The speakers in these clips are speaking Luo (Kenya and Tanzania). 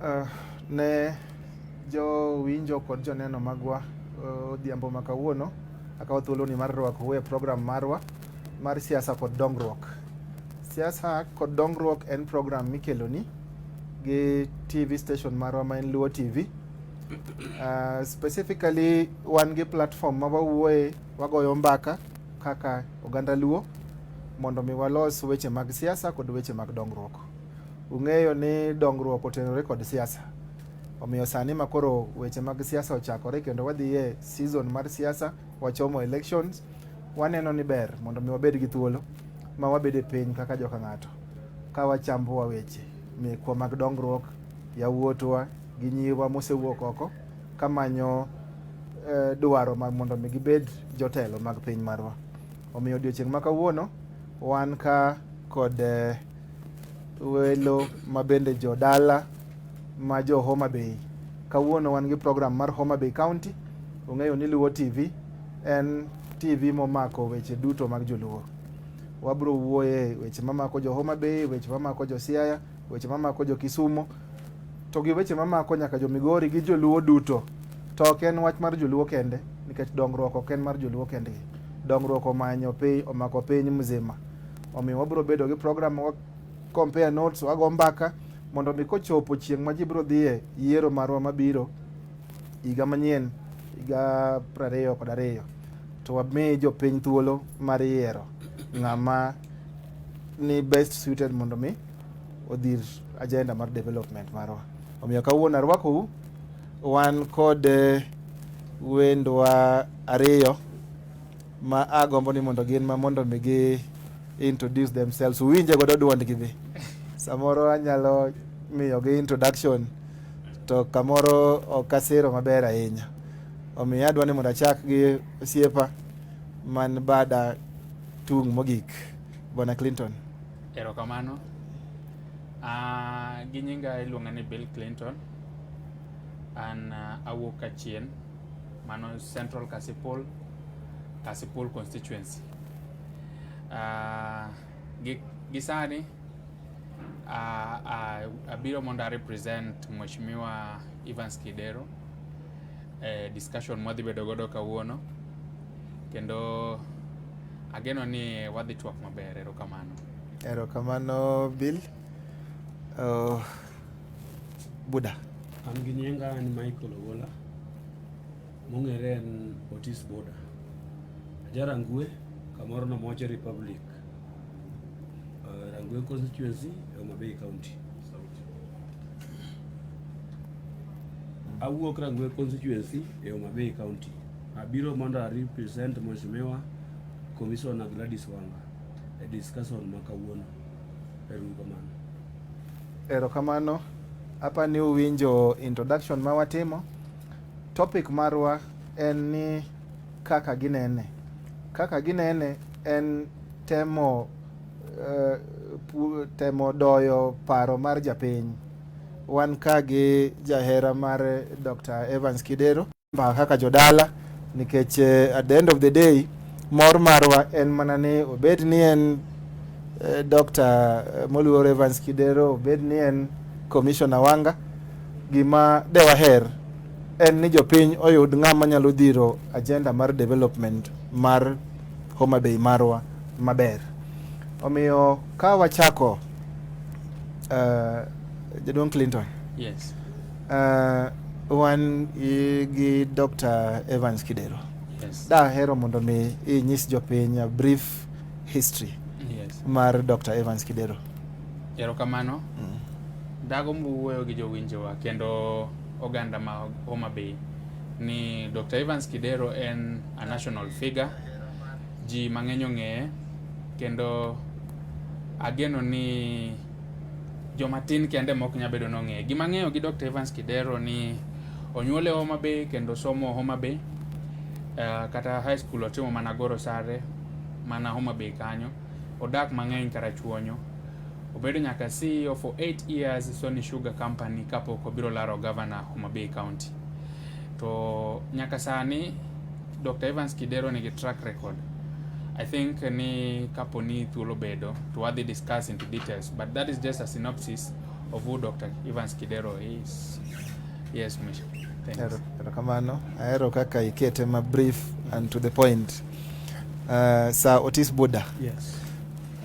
Uh, ne jowinjo kod joneno magwa eh, odhiambo uh, ma kawuono akawo thuoloni mar rwakou e program marwa mar siasa kod dongruok. Siasa kod dongruok en program mikeloni gi TV station marwa ma en Luo TV. Uh, ah, specifically wan gi platform ma wawuoye wagoyo mbaka kaka oganda Luo mondo mi walos weche mag siasa kod weche mag dongruok. Ung'eyo ni dongruok otenore kod siasa. Omiyo sani ma koro weche mag siasa ochakore kendo wadhi e season mar siasa, wachomo elections, waneno ni ber mondo mi wabed gi thuolo ma wabed e piny kaka joka ng'ato ka wachambowa weche mekwa mag dongruok, yawuotwa gi nyiwa mosewuok oko kamanyo eh, dwaro ma mondo mi gibed jotelo mag piny marwa. Omiyo odiochieng' ma kawuono wan ka kod eh, welo mabende jodala ma jo Homa Bay. Kawuono wan gi program mar Homa Bay County. Ung'eyo ni Luo TV en TV momako weche duto mag joluo. Wabro wuoye weche mamako jo Homa Bay, weche mamako jo Siaya, weche mamako jo Kisumo to gi weche mamako nyaka jo Migori gi joluo duto. To ok en wach mar joluo kende nikech dongruok ok en mar joluo kende. Dongruok omanyo piny omako piny mzima. Omiyo wabiro bedo gi program wa compare notes wago mbaka mondo mi kochopo chieng' ma ji biro dhiye yiero marwa mabiro higa manyien higa prariyo kod ariyo to wami jopiny thuolo mar yiero ng'ama ni best suited mondo mi odhir agenda mar development marwa. Omiyo kawuono arwakou wan kod eh, wendwa ariyo ma agombo ni mondo gin ma mondo mi gi introduce themselves uwinje godo duondgi be samoro anyalo miyogi introduction to kamoro ok asiro maber ahinya omiyo adwa ni mondo achak gi osiepa man bada Tung' mogik, Bwana Clinton. Erokamano. Uh, gi nyinga iluonga ni Bill Clinton. An uh, awuok Kachien, mano Central Kasipul, Kasipul constituency. Uh, gi, gi sani uh, uh, abiro mondo a represent Mheshimiwa Evans Kidero e discussion mwadhi bedo godo kawuono kendo ageno ni wadhi twak maber. Erokamano. Erokamano Bill. Uh, Buda. An gi nyinga en Michael Ogola mong'ere en Otis Buda. Ajarangwe kamoro no Moche Republic. Uh, rangi ya constituency ya Homa Bay County. Awuok rangi ya constituency ya Homa Bay County. Abiro mondo a represent Mheshimiwa Commissioner Gladys Wanga e discussion ma kawuono. Erokamano. Erokamano. Hapa ni uwinjo introduction ma watimo. Topic marwa en ni kaka ginene. Kaka ginene en temo uh, temo doyo paro mar japiny. Wan ka gi jahera mar Dr. Evans Kidero mbaka kaka jodala nikech uh, at the end of the day mor marwa en mana ni obed ni en uh, Dr. Moluor Evans Kidero obed ni en Commissioner Wanga gima dewaher en ni jopiny oyud ng'ama nyalo dhiro agenda mar development mar Homa Bay marwa maber. Omiyo ka wachako uh, Jaduong' Clinton. Yes. Uh, wan gi Dr. Evans Kidero. Yes. Dahero mondo mi inyis jopiny a brief history yes. mar Dr. Evans Kidero. Erokamano. Mm. Dago mbuwuoyo gi jowinjowa kendo oganda ma Homa Bay ni Dr. Evans Kidero en a national figure, ji mang'eny ong'eye kendo ageno ni joma tin kende mok nya bedo nong'eye. Gima ng'eyo gi Dr. Evans Kidero ni onyuole Homa Bay kendo somo Homa Bay uh, kata high school otimo mana Goro Sare mana Homa Bay kanyo. Odak mang'eny Karachuonyo Obedo nyaka CEO for 8 years Sony Sugar Company kapok obiro laro governor Homa Bay County. To nyaka sani Dr. Evans Kidero nigi track record. I think ni kapo ni thuolo bedo to wadhi discuss into details but that is just a synopsis of who Dr. Evans Kidero is. Yes, Misha. Thanks. Erokamano. Aero kaka ikete ma brief and to the point. Uh, Sir Otis Buda. Yes.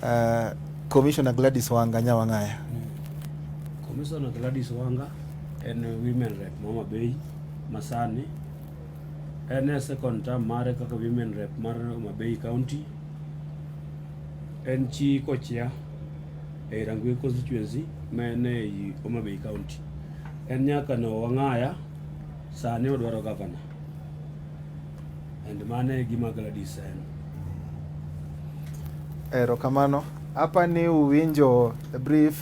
Uh, Commissioner Gladys Wanga Nyawang'aya. Mm. Commissioner Gladys Wanga en women rep Mama Bay Masani en e second term mare kaka women rep mar Homa Bay County en chi kochia e Rangwe constituency ma en e Homa Bay County en nyaka no wang'aya sani odwaro gavana And mano e gima Gladys en. Erokamano. Hapa ni uwinjo a brief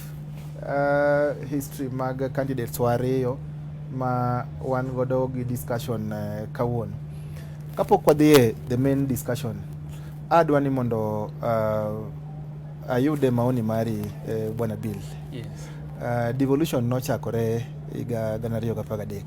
uh, history mag candidates wariyo ma wan godo gi discussion uh, kawuono. Kapok wadhie the main discussion, adwa ni mondo uh, ayude maoni mari uh, Bwana Bill. Yes. Uh, devolution nochakore higa gana ariyo gi apar gadek.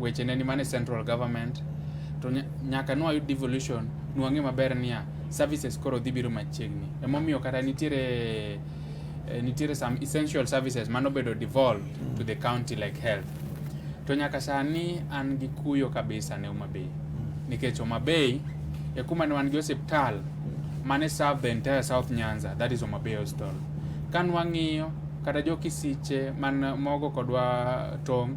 weche ne ni mane central government to nyaka nwa yud devolution nwang'e maber niya services koro dhi biro machiegni emomiyo kata nitiere eh, nitiere some essential services mano bedo devolved to the county like health to nyaka sani an gi kuyo kabisa ne Homa Bay nikech Homa Bay e kuma ne wan gi osiptal mane serve the entire South Nyanza that is Homa Bay Hospital ka nwang'iyo kata jo Kisiche man mogo kodwa tong'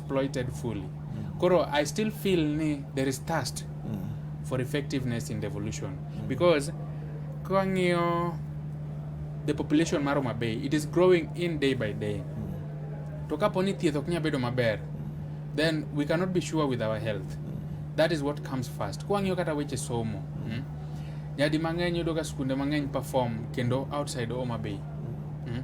exploited fully. Mm. Koro I still feel ni there is thirst mm. for effectiveness in devolution mm. because kang'iyo the population mar Homa Bay it is growing in day by day. Mm. To kapo ni thieth ok nya bedo maber mm. then we cannot be sure with our health. Mm. That is what comes first. Kwangiyo kata weche somo. Mm. Mm. Nyadi mang'eny yudo ka skunde mang'eny perform kendo outside Homa Bay. Mm.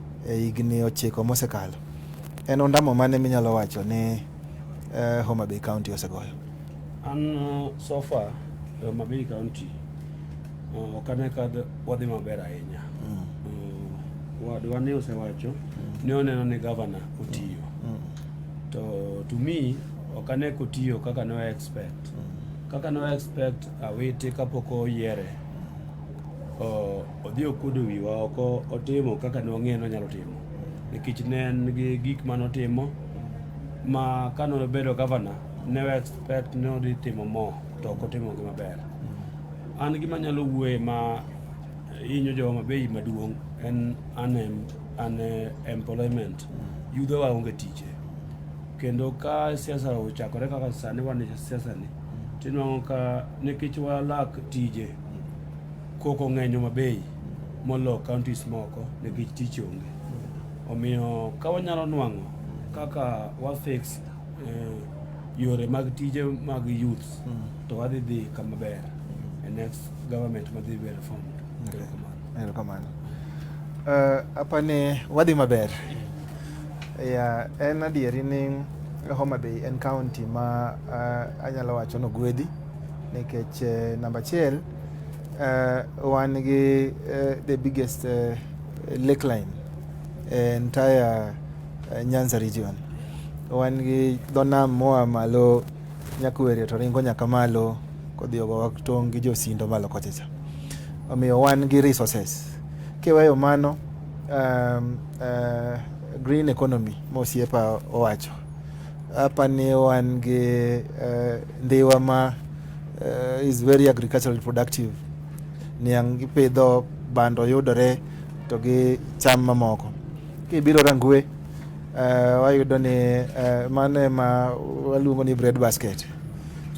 E higni ochiko mosekalo, en ondamo mane minyalo wacho ni eh, Homa Bay County osegoyo? An uh, so far e Homa Bay County uh, ok ane ka d- wadhi maber ahinya. Uh, Wadwa ne osewacho ne oneno ni gavana otiyo. To to me ok ane kotiyo kaka ne expect. Kaka ne expect awiti kapok oyiere. Uh, Odhi okuodo wiwa oko otimo kaka ne wang'eyo nonyalo timo nikech ne en gi gik ma notimo ma ka nobedo gavana ne expect ne odhi timo mo to ok otimo gi maber. An gima nyalo wuoye ma inyo jo Homa Bay maduong' en unemployment. Yudhowa onge tije kendo ka siasa ochakore kaka sani wan e siasani tinwang'o ka nikech walak tije Koko ng'eny Homa Bay molo counties moko nikech tich onge. Omiyo ka wanyalo nwang'o kaka wa fix eh, yore mag tije mag youths mm. to wadhi dhi kama ber e next government madhi bedo formed. Okay. Erokamano. Uh, eh, apa ne wadhi maber. Yeah, en adieri ni Homa Bay en county ma uh, anyalo wacho nogwedhi nikech uh, eh, namba achiel uh, wan gi uh, the biggest uh, lake line uh, entire uh, Nyanza region. Wan gi dho nam moa malo Nyakwere to ringo nyaka malo kodhi ogowa tong' gi josindo malo kochacha. Omiyo wan gi resources. Kiweyo mano um, uh, green economy mosiepa owacho apani wan gi uh, ndiwa ma Uh, is very agricultural productive. Niang' ipidho bando yudore to gi cham mamoko. Kibiro Rangwe uh, wayudo ni uh, mano ema waluongo ni bread basket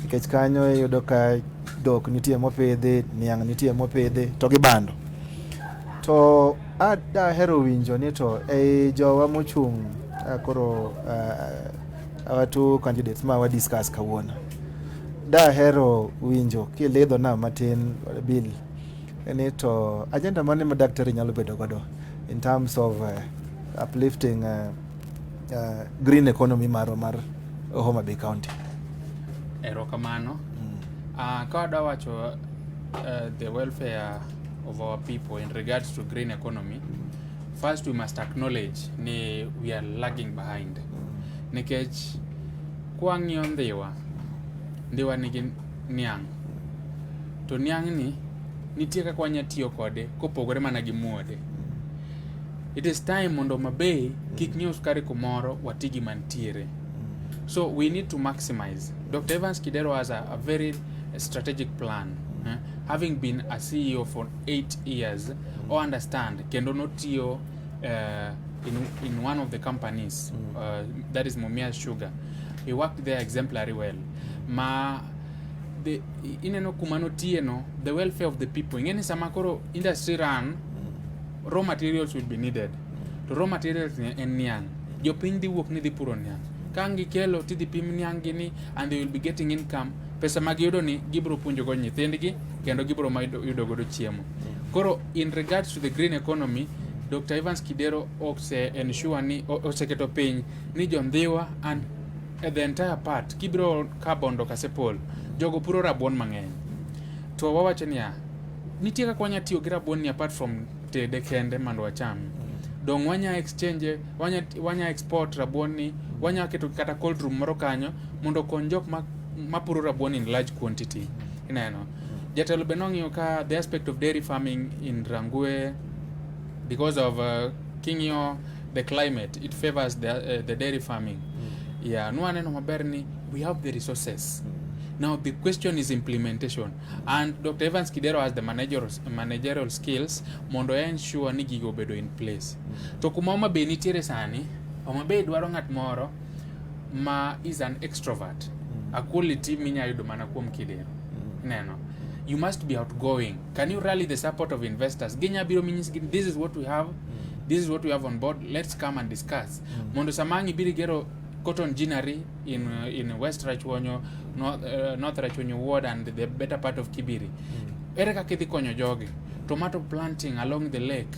nikech kanyo iyudo ka dhok nitie mopidhi, niang' nitie mopidhi to gi bando. To a- dahero winjo ni to ei jowa mochung' uh, koro uh, our two candidates ma wadiscuss kawuono Dahero winjo kilidhona matin Bill ni to agenda mane ma daktari nyalo bedo godo in terms of uh, uplifting uh, uh, green economy marwa mar Homa Bay County. Erokamano. Mm. Uh, ka wadwa wacho uh, the welfare of our people in regards to green economy first we must acknowledge ni we are lagging behind mm. nikech Kwang'iyo Ndhiwa, Ndhiwa nigi niang'. To niang'ni nitie kaka wanya tiyo kode kopogore mana gi muode. It is time mondo mabei kik nyiew sukari kumoro wati gi mantiere. So we need to maximize. Dr. Evans Kidero has a, a very strategic plan. Eh? Having been a CEO for eight years, o understand kendo notiyo uh, in, in one of the companies mm. uh, that is Mumia Sugar. He worked there exemplary well. Ma the ineno kumano tieno the welfare of the people. Ingeni sama koro industry run mm. raw materials will be needed. To raw materials en niang. Jopiny dhi wuok ni dhi puro niang. Ka ngikelo tidhi pim niang gini and they will be getting income. Pesa ma giyudo ni gibiro puonjogo nyithindgi kendo gibiro yudo godo chiemo. Mm. Koro In regards to the green economy, Dr. Evans Kidero ose ensure ni oseketo piny ni jo Ndhiwa and the entire part kibiro ka Bondo Kasepol jogo puro rabuon mang'eny to wawacho niya nitie kaka wanya tiyo gi rabuon ni apart from tede kende mondo wacham dong wanya exchange wanya, wanya export rabuon ni wanya keto kata cold room moro kanyo mondo okony jok ma mapuro rabuon in large quantity ineno Jatelo be nong'iyo ka the aspect of dairy farming in Rangwe because of uh, king'iyo the climate it favors the, uh, the dairy farming mm. yeah nwaneno maber ni we have the resources mm. Now the question is implementation and Dr. Evans Kidero has the managerial, managerial skills mondo ensure ni gigo obedo in place. Mm. To kuma Homa Bay nitiere sani, Homa Bay dwaro ng'at moro ma is an extrovert mm. a quality minya yudo mana kuom kidero mm. neno you must be outgoing can you rally the support of investors ginya biro minyis gi this is what we have mm. this is what we have on board let's come and discuss mm. mondo sama ang' ibiro igero cotton ginnery in, uh, in west rachwonyo north, uh, north rachwonyo ward and the better part of kibiri mm. ere kaka idhi konyo jogi tomato planting along the lake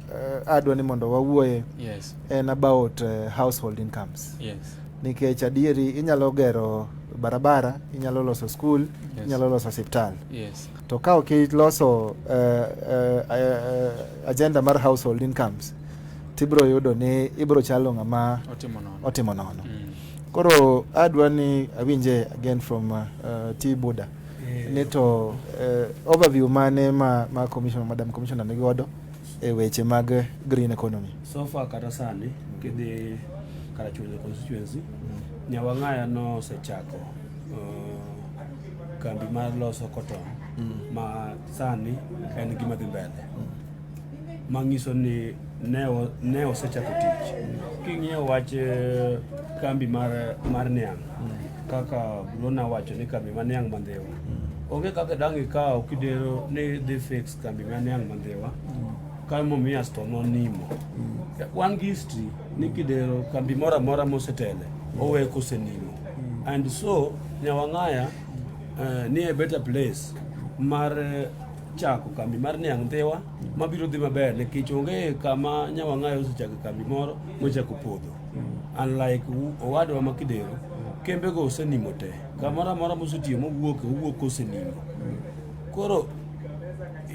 uh, adwa ni mondo wawuoye yes. en about uh, household incomes yes. nikech adieri inyalo gero barabara inyalo loso skul yes. inyalo loso osiptal yes. to ka ok iloso uh, uh, uh, agenda mar household incomes tibiro yudo ni ibiro chalo ng'ama otimo nono mm. koro adwa ni awinje again from uh, uh, t buda yeah. ni to uh, overview mane ma, ma commissioner madam commissioner nigodo e weche mag green economy. So far kata sani mm. kidhi Karachuonyo constituency mm. Nyawang'aya nosechako uh, kambi mar loso cotton mm. ma sani en gima dhi mbele mm. mang'iso ni ne osechako tich mm. king'iyo wach eh, kambi mar, mar niang' mm. kaka Bruna wacho ni kambi mar niang' mandhiwa mm. onge kaka dang' ikawo kidero ni dhi fix Kambi mane ang' mandhiwa ka Mumias to nonimo. Wan gi history ni kidero kambi moro amora mosetele owe kosenimo. And so Nyawang'aya eh, ni a better place mar eh, chako kambi mar niang' dhiwa mabiro dhi maber nikech onge kama Nyawang'aya osechako kambi moro mochako podho. Unlike u- owadwa ma Kidero, kembego osenimo te. Kamoro amora mosetiyo mowuok, owuok kosenimo. Koro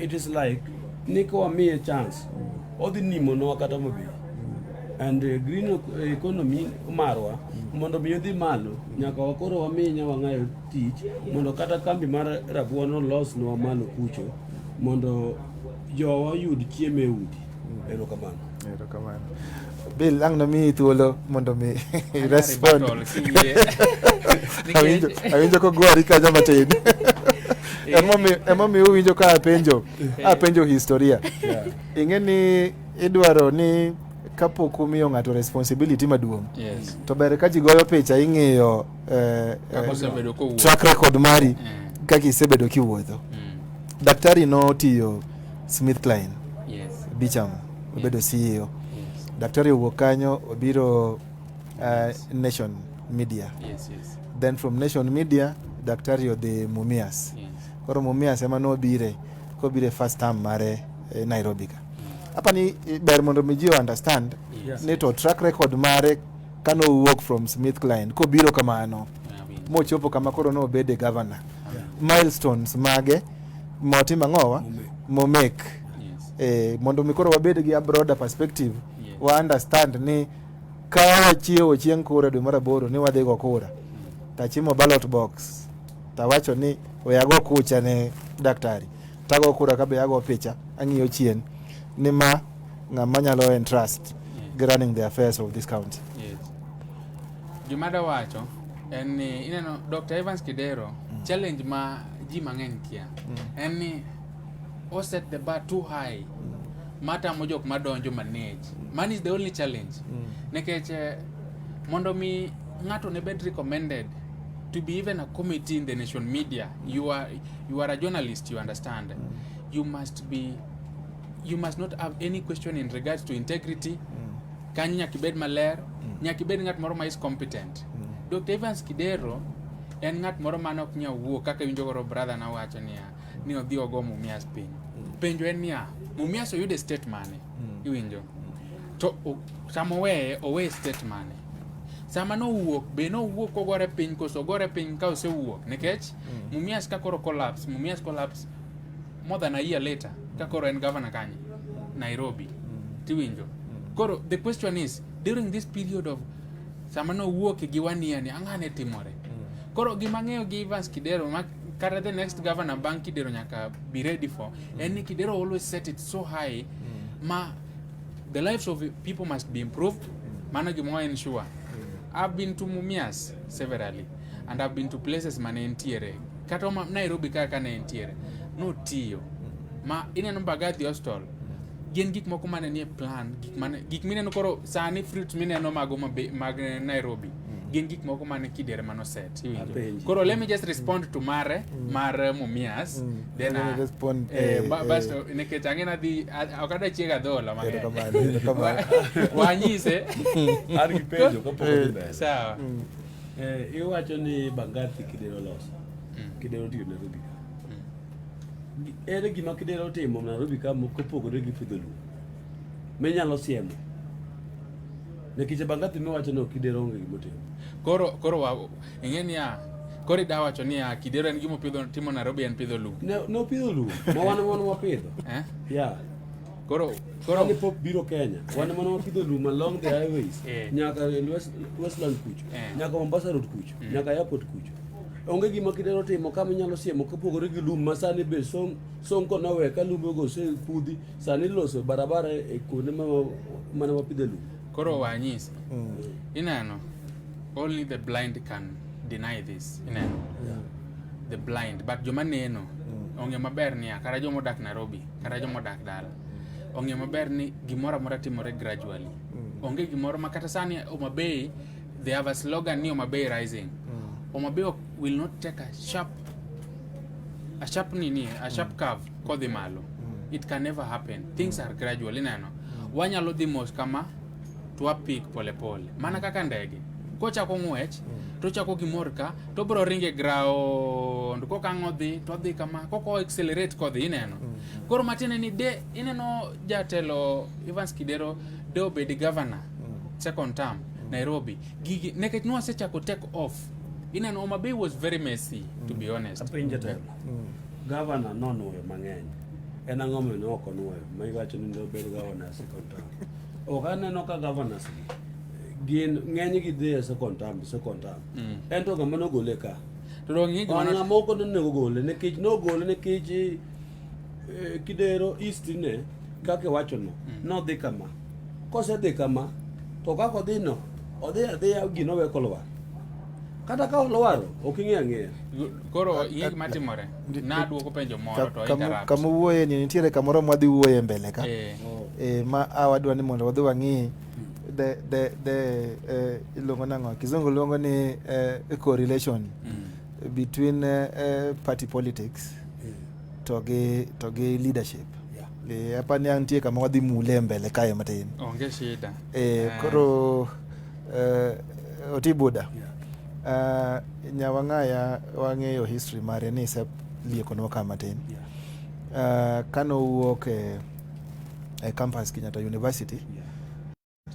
it is like ni ka wamiye chance odhi nimonwa kata mabe and uh, green ec- economy marwa mondo mi odhi malo nyaka wakoro wamiye nyawang'ayo tich mondo kata kambi mar rabuon olosnwa malo kucho mondo jowa oyud chiemo e udi erokamano Erokamano. Bill, ang nami tulo mo nami respond. Awinjo, awinjo ko gwari ka jama tin. Emo mi emo mi uwinjo ka apenjo, apenjo historia. Ing'e ni idwaro ni kapok umiyo ng'ato responsibility maduong' yes. to ber ka ji goyo picha ing'iyo eh, eh, track record mari mm. kaka isebedo kiwuotho mm. daktari notiyo smith klein yes. bicham obedo yes. CEO. Yes. Daktari owuok kanyo obiro uh, yes. Nation Media. Yes, yes. Then from Nation Media daktari odhi Mumias. Yes. Koro Mumias ema nobire kobire first term mare eh, Nairobi ka. Mm. Hapa ni eh, ber mondo mi ji understand yes. ni to track record mare kano wuok from Smith Klein kobiro kamano mochopo kama koro nobede governor milestones mage motimo ang'owa momek eh, mondo mi koro wabed gi a broader perspective yes. wa understand ni ka wachiewo chieng' kura dwe mar aboro ni wadhi go kura tachimo ballot box tawacho ni we ago kucha ne daktari tago kura kabe ago picha ang'iyo chien ni ma ng'ama nyalo entrust yes. running the affairs of this county Gima da wacho en ni ineno Dr. Evans Kidero mm. challenge ma ji mang'eny kia mm. en ni o set the bar too high mm. matamo jok madonjo manage. Mm. Man is the only challenge. Mm. Nekech eh, mondo mi ng'ato ne bed recommended to be even a committee in the nation media you are you are a journalist you understand mm. you must be you must not have any question in regards to integrity mm. Kanyo nyaka ibed maler, mm. nyaka ibed ng'at moro ma is competent. Mm. Dr. Evans Kidero en ng'at moro ma nok nyal wuo kaka winjo goro brother na wacho niya ni odhi ogo Mumias piny. Mm. Penjo en niya, Mumias oyudo e state mane? Mm. Iwinjo? Mm. To sama oweye, oweye state mane? sama nowuok be nowuok kogore piny koso ogore piny ka osewuok nikech mm. Mumias ka koro collapse Mumias collapse More than a year later, ka koro en governor kanye? Nairobi. Mm. Tiwinjo. Mm. Koro the question is during this period of sama no wuok gi wania ni ang'ane timore. Mm. Koro gima ng'eyo gi Evans Kidero ma kata the next governor bang' Kidero nyaka be ready for mm. en ni Kidero always set it so high mm. ma the lives of people must be improved. Mm. Mano gima en sure. Mm. I've been to Mumias severally. and I've been to places mane entiere kata ma Nairobi kaka kane entiere notiyo ma ineno Mbagathi Hostel gin gik moko mane nie plan gik mane gik mineno koro sani fruits mineno mago mag Nairobi mm. gin gik moko mane kidere mano set koro let me just respond to mare mm. mar Mumias mm. then I respond eh, eh, eh. bas nikech ang'e nadhi ok adwa chiega adhola mang'eny wanyise sawa Eh, iwacho ni Bangati Kidero loso. Mm. Kidero tiyo Nairobi ka. Mm. Ere gima Kidero timo Nairobi ka kopogore gi pidho lum? Minyalo siemo. Nikech Bangati miwacho ni Kidero onge gima timo. Koro koro wa ing'e niya koro ida wacho niya Kidero en gima pidho timo Nairobi en pidho lum. Ne no pidho lum. Ma wan wan wapidho. Eh? Yeah. Koro koro ni pop biro Kenya. Wan mana wapidho lum along the highways. Eh. Nyaka West, Westland kucho. Eh. Nyaka Mombasa road kucho. Mm. Nyaka airport kucho. Onge gima kidero timo kama inyalo siemo kopogore gi lum ma sani be song song ko nawe ka lum go se kudhi sani loso barabara e kuonde ma mana wapidho lum. Koro wanyis. Mm. Inano. Only the blind can deny this. Inano. Yeah. The blind but joma neno mm. onge maber niya kara joma odak Nairobi kata joma odak dala ong'e maber ni gimoro amora timore gradually mm. onge gimoro ma kata sani Homa Bay they have a slogan ni Homa Bay rising mm. Homa Bay will not take a sharp a sharp nini a sharp mm. curve kodhi malo mm. it can never happen things are gradual ineno mm. wanyalo dhi mos kama twapik polepole mana kaka ndege kochako ng'wech mm. tochako gimor ka tobro ringe ground kokang' odhi todhi kama koko accelerate kodhi ineno mm. koro matiende ni de ineno jatelo Evans Kidero de obedi governor mm. second term Nairobi gigi nekech nwasechako take off ineno Homa Bay was very messy to be honest apinje telo governor nonuoyo mang'eny en ang'o momiyo ok onuoyo ma iwacho ni ne obedo governor second term ok aneno ka governors gi gin ng'eny gi dhi e second term second term mm. en to gama nogole ka to dong ng'e gima ng'a moko ne nego gole nikech nogole nikech eh, kidero east ne kaka wacho no mm. nodhi kama kosedhi kama to kaka odhi no odhi adhiya gino we kolwar kata ka olwaro ok ing'e ang'eya koro ing'e gima timore Nadwoko penjo moro to interrupt. Kama wuoye ni nitiere kamoro mwadhi wuoye mbele ka. Eh. eh ma a wadwa ni mondo wadhi wang'i the the the eh, iluongo nang'o kizungu luongo ni eh, correlation mm. between eh, party politics mm. to gi to gi leadership yeah. eh, apa ni antie kama wadhi mule mbele kae matin onge shida eh, eh. koro uh, Otibuda yeah. Uh, Nyawang'aya wang'eyo history mare ni isep liekonwa ka matin yeah. Uh, kane owuok e, e campus Kenyatta University yeah.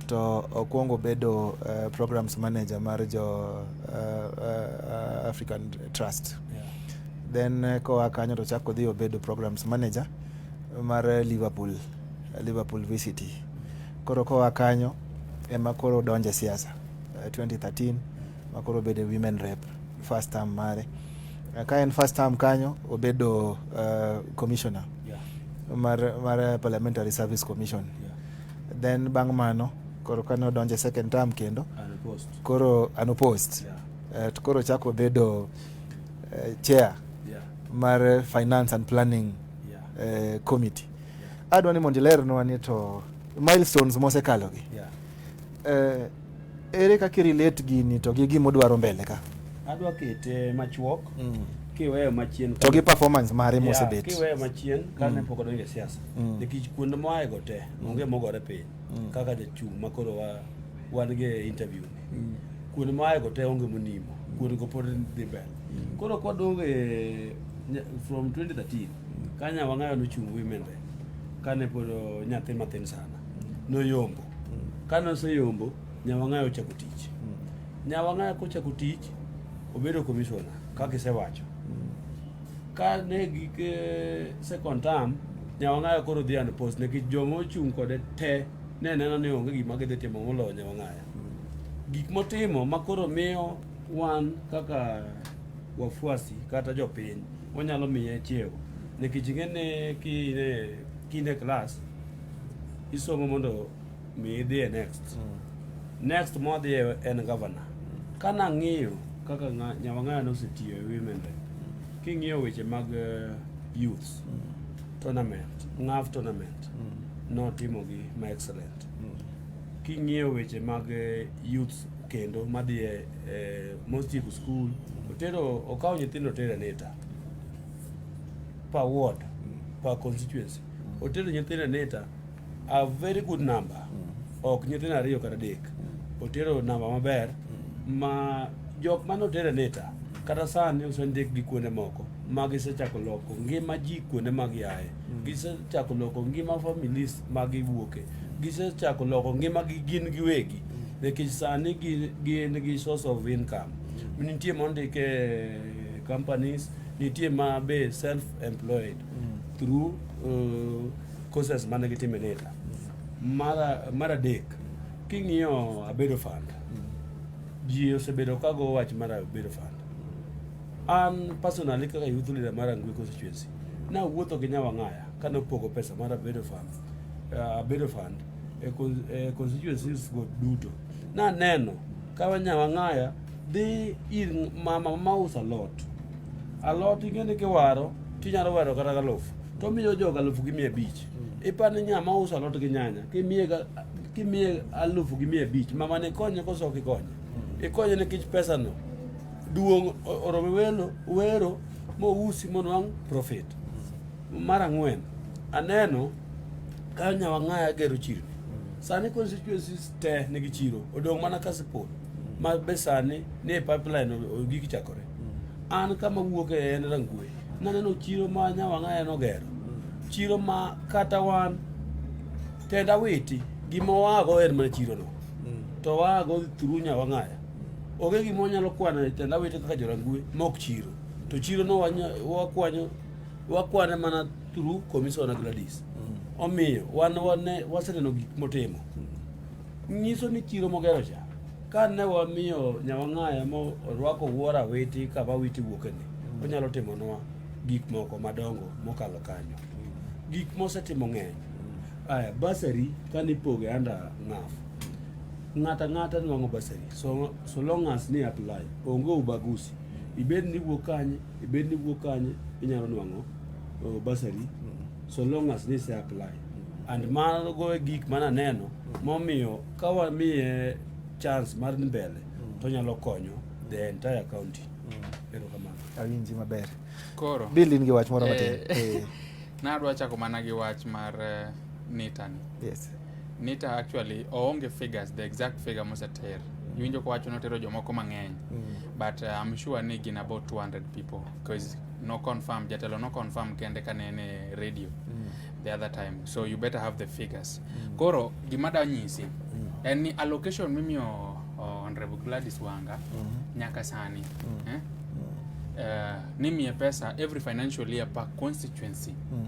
to okwongo bedo uh, programs manager mar jo uh, uh, African Trust yeah. then uh, koa kanyo to chako dhi obedo programs manager mar Liverpool Liverpool VCT Koro koa kanyo ema koro donje siasa 2013 eh, makoro obedo women rep first term mare eh, ka en first term kanyo obedo uh, commissioner yeah. mar, mar parliamentary service commission yeah. then bang' mano koro kane odonje second term kendo unopposed. koro unopposed yeah. uh, koro chako obedo uh, chair yeah. mar finance and planning yeah. uh, committee adwa ni mondo ilernwa ni to milestones mosekalogi yeah. eh, ere kaka irelate gini to gi gima odwaro mbele ka adwa kete machuok mm. kiweyo machien to gi performance mare yeah, mosebet kiweyo machien mm. kane mm. pok odonjo e siasa mm. nikech kuonde moaego te mm. onge mogore piny mm. kaka jachung' ma koro wa, wan gi e interview ni mm. kuonde moaego te onge monimo mm. kuonde go pod dhi mbele mm. koro kwadonge from 2013 Ka Nyawang'ayo nochung' women rep kane pod nyathi matin sana, noyombo. Kane oseyombo, Nyawang'ayo ochako tich. Nyawang'ayo kochako tich, obedo commissioner kaka isewacho. Kane gik eh, second term, Nyawang'ayo koro dhi and post nikech joma ochung' kode te ne neno ni onge gima gidhi timo moloyo Nyawang'ayo. Gik motimo ma koro miyo wan kaka wafuasi kata jopiny wanyalo miye chiewo nikech ing'eni kine kine klas isomo mondo mi idhiye next mm. next modhiye en governor mm. ka nang'iyo kaka nyawang'aya nosetiyo e women rep mm. king'iyo weche mag eh, youth mm. tournament ngaf tournament mm. notimogi ma excellent mm. King'iyo weche mag eh, youth kendo madhi e eh, mostieko skul otero okawo nyithindo otero aneta per ward per constituency otero nyithindo aneta a very good number ok nyithindo ariyo kata adek otero namba maber ma jok mane otero aneta kata sani osendik gi kuonde moko ma gisechako loko ngima ji kuonde ma giaye Gisechako loko ngima families ma giwuoke. Gisechako loko ngima gi gin giwegi. Nikech sani gin gi source of income. Nitie mondike companies, nitie ma be self employed mm. through uh, courses mane gitime later. Mara mara dek king'iyo abedo fund. Mm. Ji osebedo kago wach mara abedo fund. An personally kaka youth leader mar Angwe constituency, na wuotho gi Nyawang'aya kane opogo pesa mar Abedo Fund, uh, Abedo Fund e, e constituencies go duto. Na neno ka Nyawang'aya dhi ir mama ma usa lot. A lot ingene kiwaro tinyalo waro kata galuf. To miyo jo galuf gi 500. Hmm. Ipani nya ma usa lot gi nyanya kimiye kimiye aluf gi 500 mama ne konye koso kikonye. Hmm. Ikonye ne kich pesa no. Duong' orome welo wero mousi monwang' profit. Mar ang'wen, aneno ka Nyawang'aya gero chirni. Sani constituencies te nigi chiro, odong' mana Kasipul ma be sani ni e pipeline o- o- gik chakore. An kama wuok e en Rangwe, naneno chiro ma Nyawang'aya nogero. Chiro ma kata wan tenda witi gima wago en mana chirono. To wago through Nyawang'aya. Onge gima wanyalo kwano e tenda wete kaka jorangue mok chiro. To chiro no wakwanyo wakwane mana through Commissioner Gladys. Mm. Omiyo wan wane waseneno gik motimo. Mm. Nyiso ni chiro mogero cha. Ka ne wamiyo nyawang'aya mo orwako wuora weti kama witi wuokeni. Mm. Onyalo timo nwa gik moko madongo mokalo kanyo. Mm. Gik mosetimo ng'eny. Mm. Aya, basari kane ipoge anda ng'afu. Ng'ato ang'ata nwang'o basari so, so long as ni apply onge ubagusi ibed ni wuok kanye ibed ni wuok kanye inyalo nwang'o uh, basari so long as ni se apply and mago e gik mana neno momiyo ka wamiye chance mar dhi mbele to nyalo konyo the entire county erokamano awinji maber Koro. bill in gi wach moro matin Eh. Eh, Nadwa chako mana gi wach mar eh, nitani. yes Nita actually oonge figures the exact figure moseter iwinjo kowacho notero jomoko mang'eny mm. but uh, I'm sure ni gin about 200 people because no confirm jatelo no confirm kende ka ne ne radio mm. the other time so you better have the figures mm. koro gima da nyisi mm. en ni allocation mimiyo uh, honorable Gladys Wanga mm. nyaka sani mm. eh? mm. uh, nimiye pesa every financial year per constituency mm.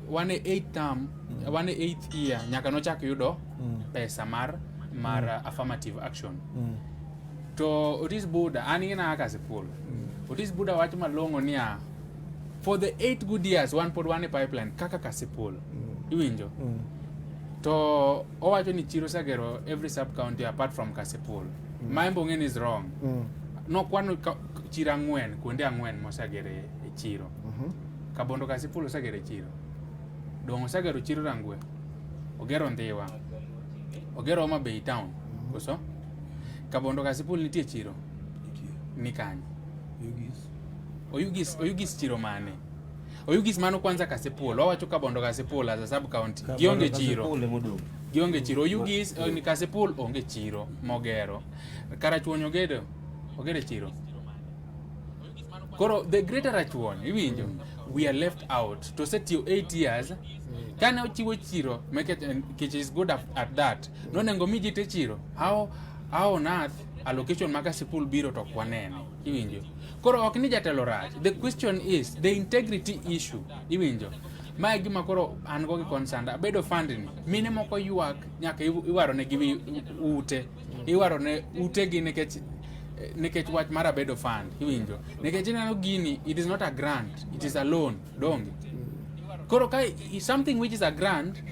wan e eighth term mm. wan e eighth year nyaka nochak yudo mm. pesa mar mar mm. affirmative action mm. to Otis Buda an ina kaka sikul mm. Otis Buda wacho malong'o niya for the eight good years wan pod wan e pipeline kaka kasipul mm. iwinjo mm. to owacho ni chiro sagero every sub county apart from kasipul mm. ma embong'eni is wrong mm. nokwano chiro ang'wen kuonde ang'wen mosagere e chiro Mhm. Kabondo kasi polo sagere chiro. Dongo sagero chiro rangwe. Ogero ndiwa. Ogero Homa Bay town. Mhm. Koso? Kabondo kasi polo nitie chiro. Ni kanye. Yugis. Oyugis, oyugis chiro mane? Oyugis mano kwanza kasi polo. Wawacho Kabondo kasi polo as a sub county. Gionge chiro. Kabondo kasi polo gionge chiro oyugis eh, ni kasi polo onge chiro mogero. Karachuonyo gedo. Ogere chiro. koro the greater rachuon iwinjo mm. we are left out to set you 8 years mm. kane ochiwo chiro make it, and, which is good at, at that mm. nonengo mi ji te chiro how, how on earth allocation maka sikul biro to kwanene iwinjo koro ok ni jatelo rach the question is the integrity issue iwinjo ma e gima koro an go gi concern abedo fund ni mine moko ywak nyaka iwaro ne gi ute iwaro ne utegi nikech nikech wach mar abedo fund iwinjo nikech ineno gini it is not a grant it is a loan donge koro ka something which is a grant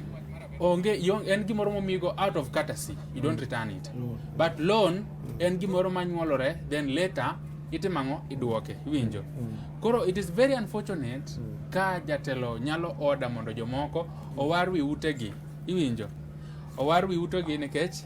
onge en gimoro momigo out of courtesy you don't return it but loan en gimoro manyuolore then later itimo ang'o idwoke iwinjo mm. koro it is very unfortunate mm. ka jatelo nyalo oda mondo jomoko owar wi utegi iwinjo owar wi utegi nikech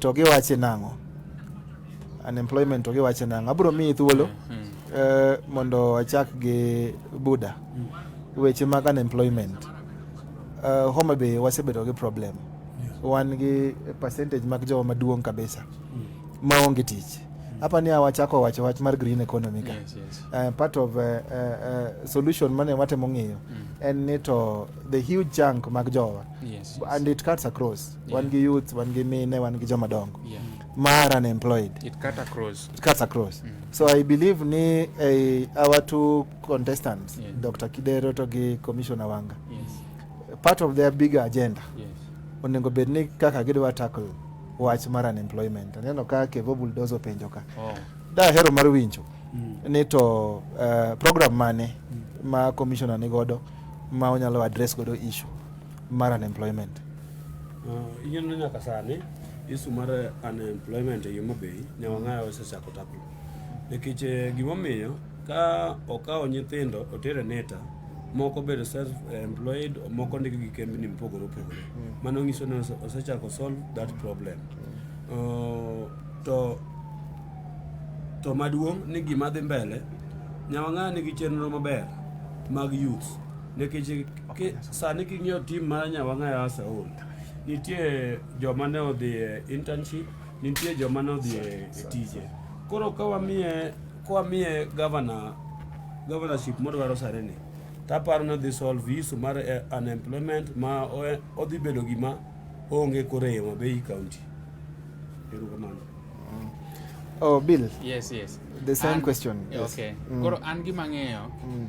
To giwache nang'o? Unemployment to giwache nang'o? Abro miyi thuolo mm, mm. Eh, mondo achak gi Buda. Mm. Weche mag unemployment. Eh, Homa Bay wasebedo gi problem. Wan gi percentage mag jowa maduong' kabisa maonge tich hapa ni awachako wacho wach mar green economy ka yes, yes. Uh, part of uh, uh, solution mane watemo ng'iyo mm. en ni to the huge chunk mag jowa yes, yes. and it cuts across wan gi youth wan gi mine wan gi joma dongo yeah. mar unemployed it cut across, it cuts across. Mm. so i believe ni eh, our two contestants yeah. dr kidero to gi commissioner wanga yes. part of their bigger agenda yes. onego bed ni kaka gidwa tackle wach mar unemployment aneno ka kevo buldozo penjo ka oh. dahero mar winjo mm. ni to uh, program mane mm. ma commissioner ni godo ma onyalo address godo issue mar unemployment. Uh, yien no nyaka sani isu mar unemployment e Homa Bay nyawang'aya osechako tapo nikech eh, gimomiyo ka okawo nyithindo otere neta moko bedo self employed moko ndiko gi kembni mopogore opogore mm. mano nyiso ni osechako solve that problem mm. uh, to to maduong' ni gima dhi mbele nyawang'aya nigi chenro maber mag youth Nikech ki, sani king'iyo tim mar Nyawang'aya Asaol, nitie joma ne odhi e internship, nitie joma ne odhi e e tije. Koro ka wamiye ka wamiye governor governorship modwaro sare ni, taparo ni odhi solve issue mar eh, unemployment ma o- odhi bedo gima onge koro e Homa Bay county. Erokamano. Oh, Bill, Yes, yes. the same An- question. Yes. Okay. Mm. Koro an gima ng'eyo Mm.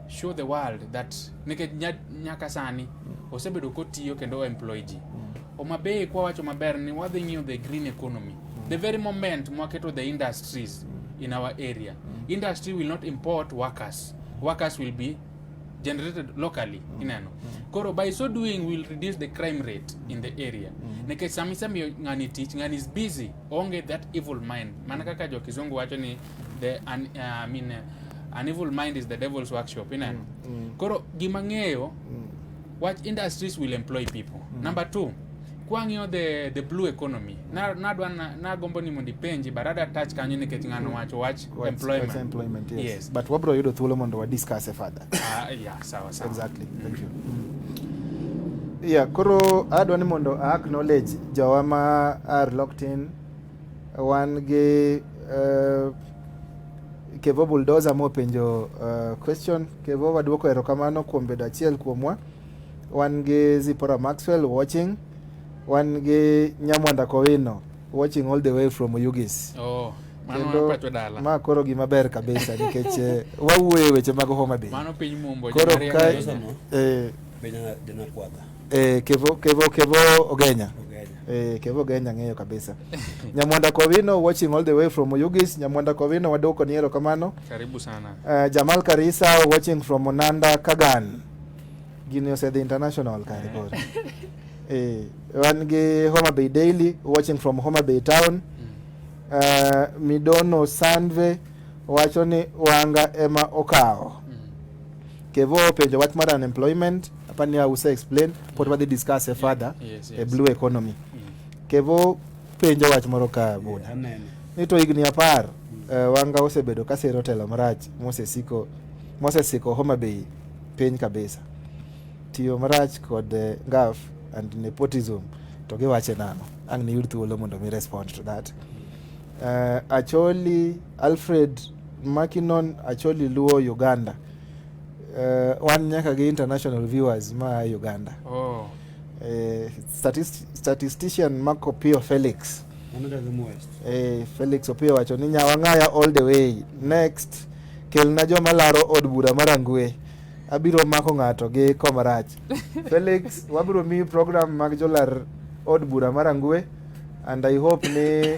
show the world that nikech nyaka sani mm. osebedo kotiyo kendo oemploy ji mm. Omabei kwa wacho maber ni wadhi ng'iyo the green economy mm. the very moment mwaketo the industries mm. in our area mm. industry will not import workers workers will be generated locally mm. ineno mm. koro by so doing will reduce the crime rate in the area mm. nikech samisemiyo ng'ani tich ng'ani is busy onge that evil mind mana kaka jo kizungu wacho ni the an, uh, I mean, uh, an evil mind is the devil's workshop ina mm, mm. koro gima ng'eyo mm. what industries will employ people mm. number two kwang'iyo the, the blue economy mm. nadwa na, nagombo ni mondo ipenji but ada touch kanyo nikech ng'ano mm. wacho wach employment, employment yes. yes. but wabro yudo thuolo mondo wa discuss e further uh, yeah, sawa sawa exactly mm. thank you mm. yeah koro adwa ni mondo a acknowledge jawa ma are locked in Wan gi uh, Kevo Bulldozer mopenjo uh, question. Kevo waduoko erokamano kuom bedo achiel kuomwa. Wan gi Zipora Maxwell watching. Wan gi Nyamwanda Kowino watching all the way from Ugis. Oh. ma koro gima ber kabisa nikech eh, wawuoye weche mag Homa Bay. Mano piny mumbo. Koro ka eh, Eh, Kevo, Kevo, Kevo Ogenya. Eh, Kevo Ogenya ng'eyo kabisa. Nyamwanda Kowino watching all the way from Oyugis. Nyamwanda Kowino wadoko ni ero kamano. Karibu sana. Eh, Jamal Karisa watching from Monanda Kagan. Gini osedhi international kare koro. Eh, wan gi Homa Bay Daily watching from Homa Bay Town. Eh, Midono Sanve wacho ni wanga ema okawo. Kevo openjo wach mar unemployment apani a use explain pod wadhi discuss e further yes, yes. e blue economy mm. Kevo penjo wach moro ka buda yeah, ni to higni apar mm. uh, wanga osebedo ka sero telo marach mosesiko mosesiko Homa Bay piny kabisa tiyo marach kod uh, eh, ngaf and nepotism to giwache nano ang' niyud thuolo mondo mi respond to that uh, Acholi Alfred Makinon Acholi Luo Uganda uh, wan nyaka gi international viewers ma Uganda oh. uh, statist statistician Marco Pio Felix uh, Felix Opio wacho ni nyawang'aya all the way next kelna joma laro od bura marangwe abiro mako ng'ato gi komarach Felix wabiro miyi program mag jolar od bura marangwe and I hope ni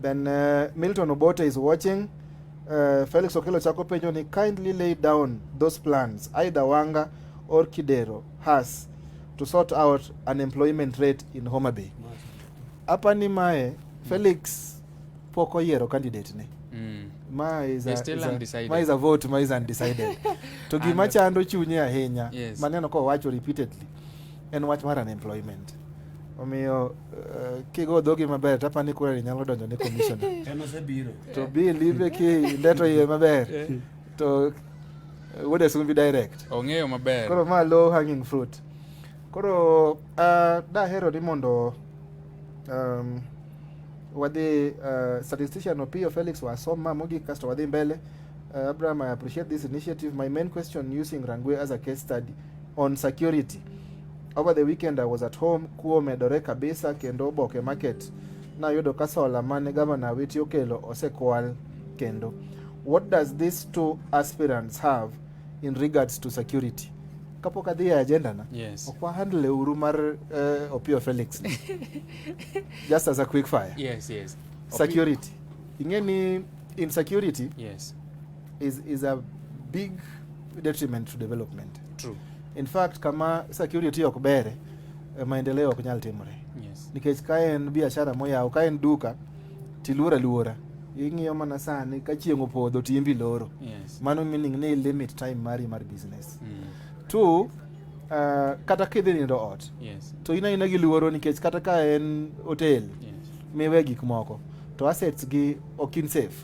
Then uh, Milton Obote is watching. Uh, Felix Okelo chako penjo ni kindly lay down those plans either Wanga or Kidero has to sort out unemployment rate in Homa Bay. Hapa ni mae Felix pok oyiero candidate ne. Mm. Ma is a, still is a, undecided. Ma is a vote, ma is undecided. to gima chando chunye ahinya yes. Maneno ko wacho repeatedly en wach mar unemployment omiyo uh, kigo dhogi maber to apani kurani nyalo donjo ne commissioner to bi live ki ndeto iye maber eh. to uh, wode sumbi direct ong'eyo maber koro ma low hanging fruit koro uh, dahero ni mondo um, wadhi uh, statistician Opiyo Felix wasom ma mogik kasto wadhi mbele uh, Abraham I appreciate this initiative my main question using Rangwe as a case study On security. Over the weekend I was at home, kuo medore kabisa kendo oboke market nayudo ka sola mane gavana Awiti okelo osekwal kendo. What does these two aspirants have in regards to security? kapok adhi e agenda na yes. ok wahandle uru mar uh, Opio Felix just as a quick fire yes, yes. security ing'e ni insecurity yes. is, is a big detriment to development. True. In fact, kama security ok bere eh, maendeleo ok nyal timore. Yes. Nikech ka en biashara moyaw, ka en duka tiluora luora ing'iyo mana sani ka chieng' opodho timbi loro. Yes. Mano meaning ni limit time mari mar business. Mm. Two, uh, kata kidhi nindo ot yes. to in aina gi luoro nikech kata ka en hotel yes. miwe gik moko to assets gi ok in safe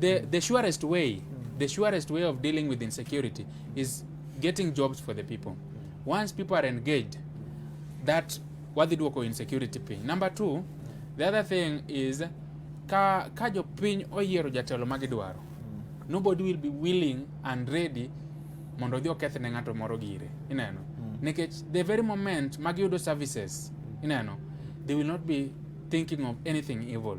the, the surest way mm. the surest way of dealing with insecurity is getting jobs for the people once people are engaged that wadhi duoko insecurity piny number two the other thing is ka, ka jopiny oyiero jatelo ma gidwaro mm. nobody will be willing and ready mondo odhi oketh ne ng'ato moro gire ineno mm. nikech the very moment ma giyudo services ineno they will not be thinking of anything evil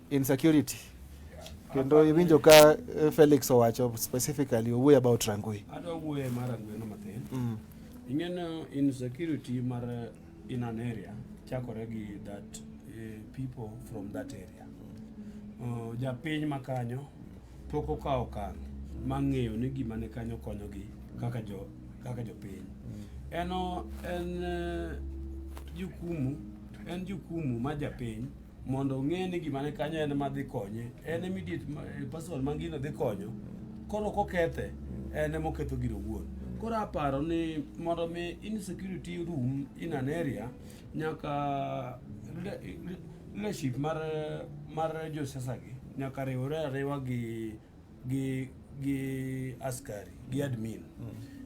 insecurity kendo iwinjo ka eh, Felix owacho specifically owuoyo about Rangwe. Adwa wuoye mar Rangwe no matin. Mm. Ing'eno insecurity mar eh, in an area chakore gi that uh, people from that area. Uh, japiny ma kanyo pok okawo okang' mang'eyo ni gima ne kanyo konyogi kaka jo kaka jopiny. Mm. Eno en uh, jukumu en jukumu ma japiny mondo ong'e ni gima ne kanyo en ma dhi konye en immediate eh, person ma gino dhi konyo koro kokethe en ema oketho gino wuon koro aparo ni mondo mi insecurity room in an area nyaka leadership mar mar josiasa gi nyaka riwre ariwa gi gi gi askari gi admin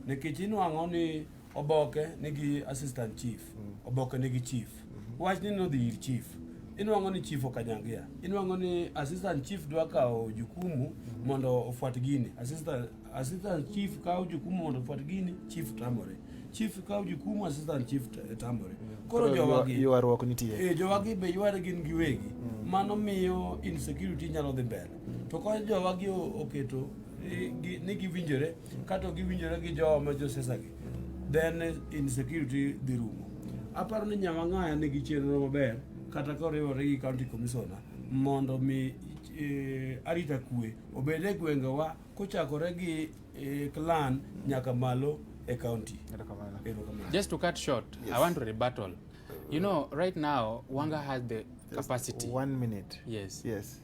nikech inwang'o ni oboke nigi assistant chief oboke nigi chief wach ni nodhi ir chief inwang'o ni chief okanyangia inwang'o ni assistant chief dwa kawo jukumu mondo ofuat gini assistant, assistant chief kawo jukumu mondo ofuat gini chief tamore chief kawo jukumu assistant chief t- tamore koro jowagi ywaruok nitie Eh, jowagi be yware gin giwegi mano miyo insecurity nyalo dhi mbele to ka jowagi oketo ni giwinjore kato giwinjore gi jowa ma josesagi then insecurity dhi rumo aparo ni nyamang'aya nigi chenro maber kata koriwore gi county commissioner mondo mi e, arita kwe obed e gwengewa kochakore gi e, clan nyaka malo e county just to cut short yes. i want to rebuttal you know right now wanga has the capacity one minute yes yes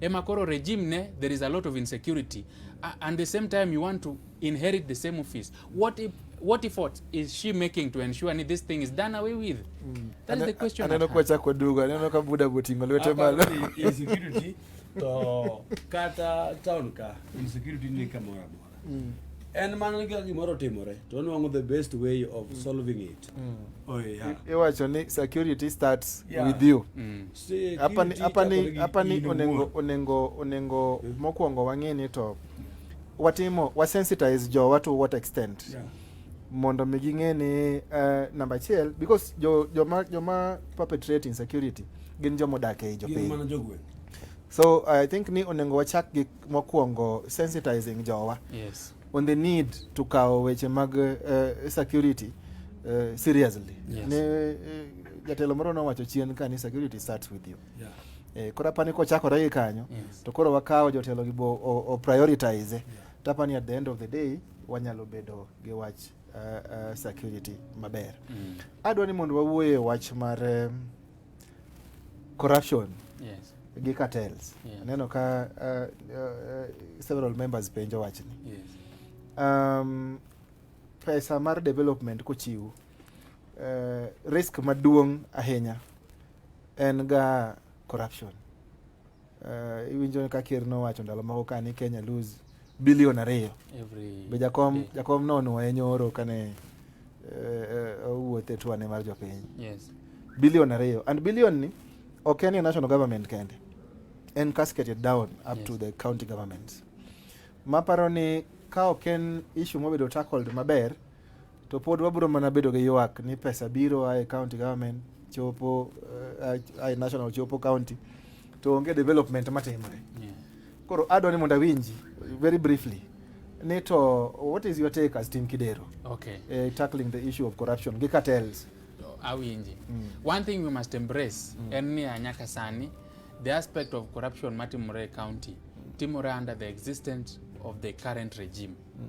ema koro regime ne there is a lot of insecurity uh, and the same time you want to inherit the same office what if what effort is she making to ensure ni this thing is done away with mm. that is the question aneno kwa chako dugo aneno ka buda botingo lwete malo insecurity to kata town ka insecurity ni kama mm. en mana ka gimoro otimore to onwang'o the best way of mm. solving it mm. oh, yeah. iwacho ni security starts yeah. with you hapa mm. hapa ni onengo onengo onengo mm. mokwongo wang'e ni to watimo wasensitize jowa to what extent yeah mondo mi ging'e ni uh, eh, namba achiel because jo, joma, joma perpetrate insecurity gin joma odak ei jopiny so i think ni onego wachak gi mokwongo sensitizing jowa yes. on the need to kawo weche mag uh, security uh, seriously yes. ne uh, jatelo moro nowacho chien ka ni security starts with you yeah. Eh, koro apani kochakore gi kanyo yes. to koro wakawo jotelo gi bo o, prioritize yeah. tapani at the end of the day wanyalo bedo gi wach uh, uh, security maber mm. adwa ni mondo wawuoye wach mar um, corruption yes. gi cartels yes. aneno ka uh, uh, several members penjo wachni yes. um, pesa mar development kochiw uh, eh, risk maduong' ahinya en ga corruption Uh, iwinjo ka ker nowacho ndalo moko ka ni Kenya lose bilion ariyo be jakom day. jakom nonuoye nyoro kane uh, owuoth e tuane mar jopiny yes. bilion ariyo and bilion ni ok en national government kende en cascaded down up yes. to the county governments maparo ni ka ok en issue mobedo tackled maber To pod wabiro mana bedo gi ywak ni pesa biro ae county government chopo eh, ae national chopo county to onge development matimore. Yeah. Koro adwa ni mondo awinji very briefly ni to what is your take as Team Kidero? Okay. Uh, tackling the issue of corruption gi cartels. Awinji. Mm. One thing we must embrace mm. en ni anyaka sani the aspect of corruption matimore e county timore under the existence of the current regime mm.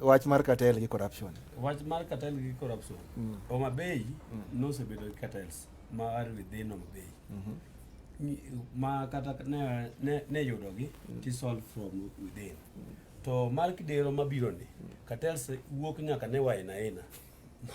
wach mar cartel gi corruption wach mar cartel gi corruption mm. Homa Bay mm. nosebedo gi cartels ma are within Homa Bay mm -hmm. ma kata ne, ne, ne yudogi mm. to solve from within mm. to mar kidero mabiro ni mm. cartels wuok nyaka ne waina aina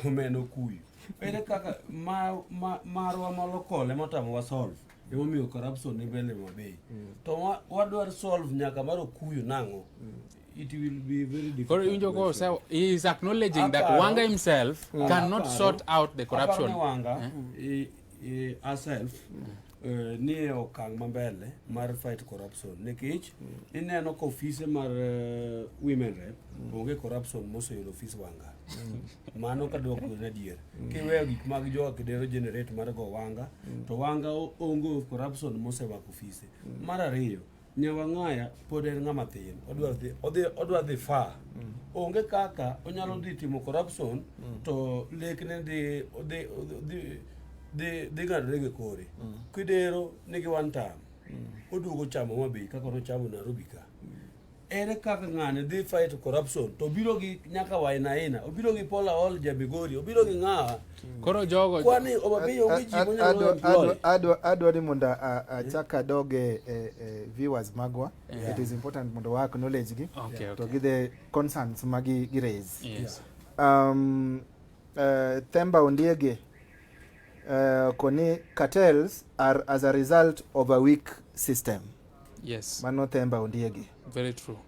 momeno kuyu ere kaka ma, ma, marwa malokole motamo wa solve emomiyo corruption ni bende mabei mm. to wadwar solve nyaka mar okuyu nang'o mm. it will be very difficult. Or Unjo Ko so he is acknowledging that Wanga himself mm. cannot sort out the corruption. Wanga eh? he, he herself mm. Uh, ni e okang' mambele mar fight corruption nikech mm. ineno ka ofise mar uh, women rep mm. onge corruption moseyudo ofis wanga mm. mano ka dwoko en adier mm. kiweyo gik mag joga kidero generate mar go wanga mm. to wanga onge corruption mosewako ofise mm. mar ariyo Nyawang'aya pod en ng'ama thin, odwa dhi odhi odwa dhi far. Mm. Onge kaka onyalo mm. dhi timo corruption mm. to lekne dhi dhi dhi dhi dhi ng'adore gi kore. Mm. Kidero nigi one time. Mm. Oduogo chamo mabi kaka nochamo Nairobi ka. Mm. Ere kaka ng'ani dhi fight corruption to obiro gi nyaka wainaina, obiro gi Paul Aol Jabigori, obiro gi ng'awa Koro jogo kwani obabi onge ji monyalo employ. Adwa ni mondo achak adog e, e, e viewers magwa. Yeah. It is important mondo wa acknowledge gi okay, okay. to gi the concerns ma gi, gi raise. Yes. Um, uh, Themba Ondiege uh, koni cartels are as a result of a weak system. Yes. Mano Themba Ondiege. Very true.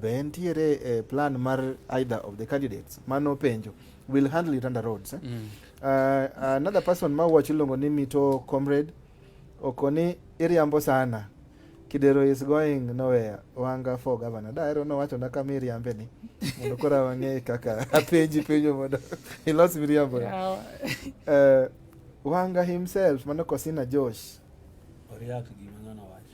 Be entiere e plan mar either of the candidates? Mano penjo. We'll handle it under roads. Eh? Mm. Uh, another person ma wacho iluongo ni Mito Comrade okoni iriambo sana. Kidero is going nowhere. Wanga for governor. Da ero no wacho na kama iriambe ni. Mondo kora wang'e kaka apenji penjo mondo ilos miriambo. Yeah. uh, Wanga himself mano Kosina Josh. Oriak gima ng'ano wacho.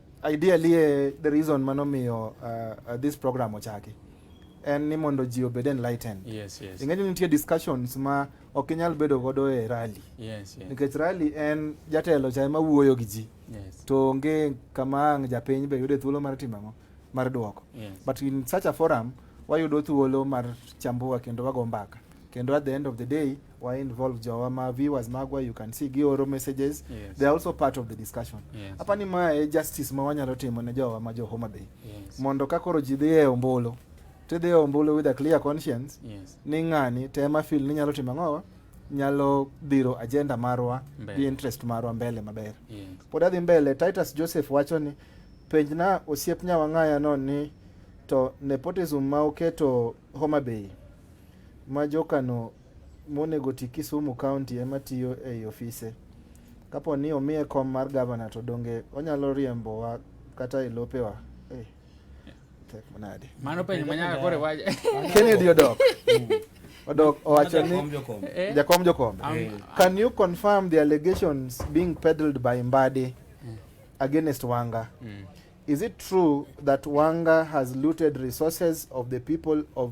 Ideally, eh, the reason mano miyo uh, uh, this program ochaki en ni mondo ji obed enlightened. Yes, yes. Ing'eyo nitie discussions ma ok inyal bedo godo e rally. Yes, yes. Nikech rally en jatelo cha ema wuoyo gi ji. Yes. To onge kama ang' japiny be yude thuolo mar timo ang'o mar duoko. Yes. But in such a forum wayudo thuolo mar chambua kendo wago mbaka. Kendo at the end of the day were involved jawa ma viewers magwa you can see gioro messages yes. they are also part of the discussion yes. apa ni mae justice ma wanyalo timo ne jowa ma jo Homa Bay yes. mondo ka koro ji dhi e ombulu tidhi e ombulu with a clear conscience yes. ni ng'ani tema fil ni nyalo timo ang'owa nyalo dhiro agenda marwa gi interest marwa mbele maber yes. pod adhi mbele Titus Joseph wacho ni penjna osiep nyawang'aya no ni to nepotism ma oketo Homa Bay ma jokano monego ti Kisumu County ema tiyo ei ofise. Kapo ni omiye kom mar gavana to donge onyalo riembowa kata e lopewa? Eh, tek manade. Mano penjo manyaka kore waje. Kennedy odok. Odok owacho ni Eh, jakom jokombe. am- Can you confirm the allegations being peddled by Mbadi against Wanga? Mm. Is it true that Wanga has looted resources of the people of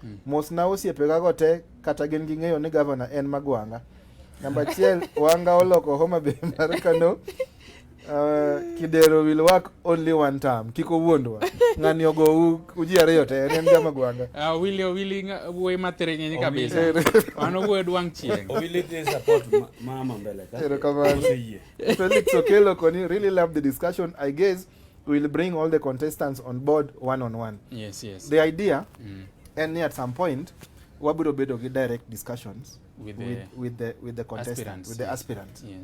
Hmm. Mos na osiepe ga go te kata gin gi ng'eyo ni governor en Magwanga. Namba achiel Wanga oloko Homa Bay mar Kano. Uh, Kidero will work only one time. Kiko wuondwa. Ng'ani ogo uji ariyo te en ga Magwanga. Ah uh, Willy Willy wuoyi matere nyenye kabisa. Wano wuoyi dwang' chieng'. Willy dey support mama mbele ka. Ero kamano. Felix Okelo koni really love the discussion I guess will bring all the contestants on board one on one. Yes, yes. The idea mm. and at some point wabiro bedo gi direct discussions with the, with, with the, with the contestant, with the aspirant. Yeah.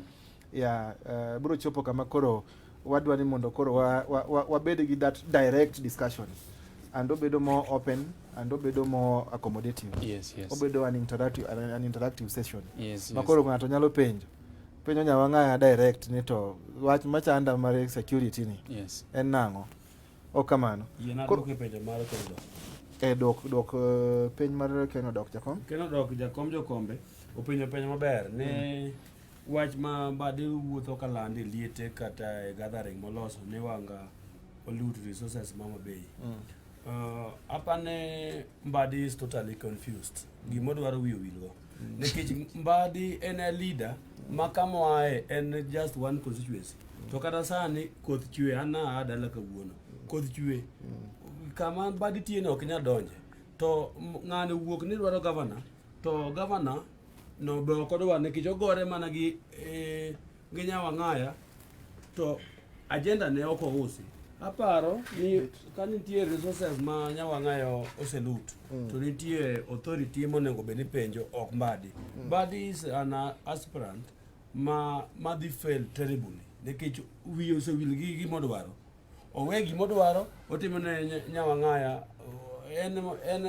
Yeah, uh, biro chopo kama koro wadwa ni mondo koro wabed wa, wa, wa gi that direct discussion and obedo more open and obedo more accommodative. Yes, yes. Obedo an interactive, an interactive session. Yes, yes. Makoro ng'ato nyalo penjo. penyo nyawang'aya direct ni to wach machanda mar security ni yes. en nang'o ok kamano e dok dok eh, piny mar keno dok jakom keno dok jakom jokombe openjo penjo maber ni mm. wach ma bade wuotho ka land e liete kata e gathering moloso ni wanga pollute resources mama bay mm. uh, apane mbadi is totally confused gimodwaro wiyo wilgo nikech mbadi en a leader ma kama oaye en just one constituency to kata sani koth chwe an naa dala kawuono koth chwe kama mbadi tiene ok nya donje to m- ng'ani wuok ni dwaro gavana to gavana no be ok odwa nikech ogore mana gi eh, gi Nyawang'aya to ajenda ne ok ousi. Aparo ni ka nitie resources ma Nyawang'aya oselut mm. to nitie authority monego bed ni penjo ok Mbadi. Mm. Mbadi is an aspirant ma madhi fail terribly nikech wiye osewil gi gimodwaro owe gimodwaro otimo ne Nyawang'aya en en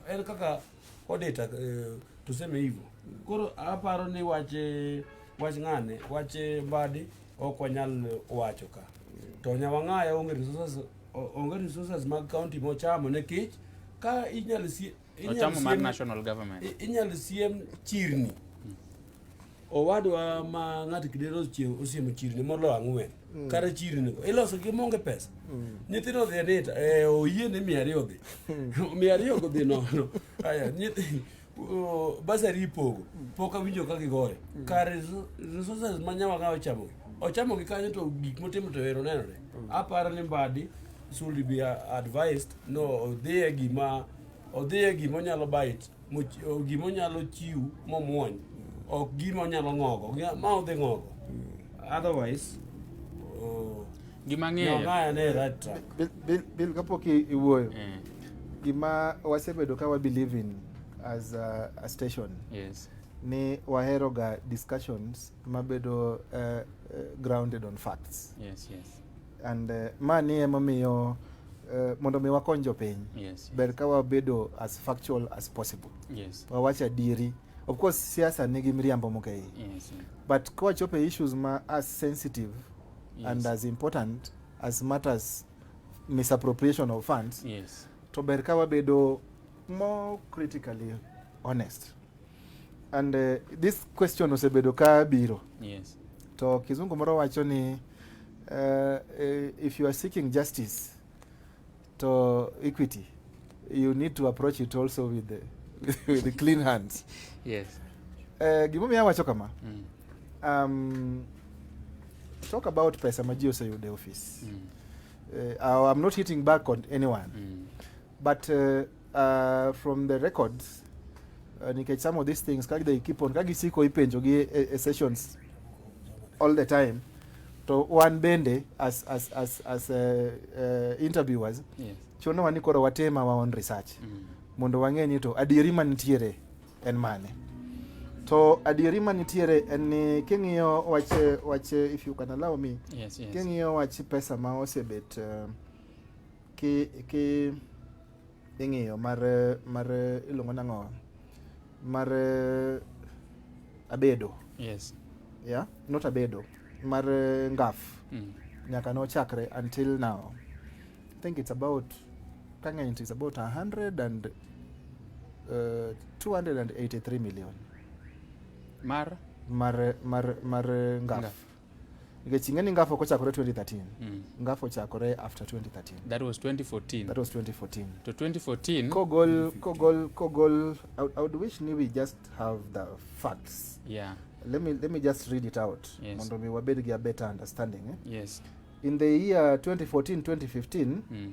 en kaka Odeta uh, eh, tuseme hivyo. Koro aparo ni wache wach ng'ane wache mbadi ok wanyal wacho ka. To nyawang'aya onge resources onge resources mag county mochamo ne kich ka inyal si inyal siem, national government inyal siem chirni owadwa ma ng'ato kidero osiemo chirni molo ang'wen mm. kata chirni go iloso gi monge pesa mm. nyithindo odhi anita e, oyie ni mia ariyo dhi mm. mia ariyo go dhi nono aya basari ipogo pok awinjo ka gigore kar resources ma nyawa ka ochamogi ochamogi kanyo to gik motimo to ero nenore aparo ni mbadi should be advised no odhiye gima odhiye gima onyalo bite gima onyalo chiw momwony ok gima onyalo ng'ogo ma odhi ng'ogo otherwise oh, gima ng'eyo bil kapok iwuoyo eh. gima wasebedo ka wabelieve in as a, a station yes. ni waheroga discussions mabedo uh, grounded on facts yes, yes. And uh, mani emomiyo uh, mondo mi wakony jopiny yes, yes. ber ka wabedo as factual as possible yes. wawach adieri of course siasa nigi miriambo moko yes, yes. but kowachopo e issues ma as sensitive yes. and as important as matters misappropriation of funds yes. to ber ka wabedo more critically honest And uh, this question osebedo ka biro. Yes. To kizungu moro wacho ni uh, if you are seeking justice to equity you need to approach it also with the, with the clean hands. Yes. Uh, gimomiyo awacho kama. Mm. Um, talk about pesa ma ji oseyudo e ofis. Mm. Uh, I'm not hitting back on anyone. Mm. But uh, Uh, from the records uh, nikech some of these things kaka they keep on kaka gisiko ipenjo gi e, e sessions all the time to wan bende as, as, as, as uh, uh, interviewers yes. chuno wani koro watema wa on research mm. mondo wang'e ni to adieri manitiere en mane to adieri manitiere en ni king'iyo wach wach if you can allow me yes, yes. king'iyo wach pesa ma osebet uh, ki ki ing'iyo mar mar iluongo nang'o mar abedo yes yeah not abedo mar ngaf mm. nyaka nochakre until now i think it's about kang'eny it's about 100 and uh, 283 million mar mar mar mar ngaf, ngaf. nikech ing'e ni ngafu ok ochakore 2013 mm. ngafu ochakore after 2013 that was 2014 that was 2014 to 2014 kogol kogol kogol I, I would wish ni we just have the facts yeah let me let me just read it out yes. mondo mi wabed gi a better understanding eh? yes in the year 2014 2015 mm.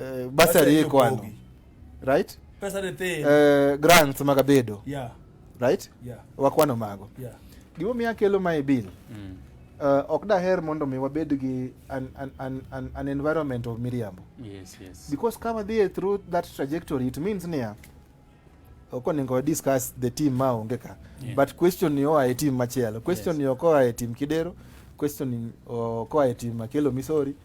eh, basari iko wano right pesa de te eh, grants maga bedo yeah right yeah wakwano mago yeah gimo miya kelo mae bill mm. uh, ok daher mondo mi wabed gi an, an, an, an, an environment of miriambo yes, yes. because ka wadhie through that trajectory it means niya ok onego discuss the team ma onge ka yeah. but question ni oa e team machielo question yes. ni ok oa e team kidero question ni ok oa e team makelo misori mm.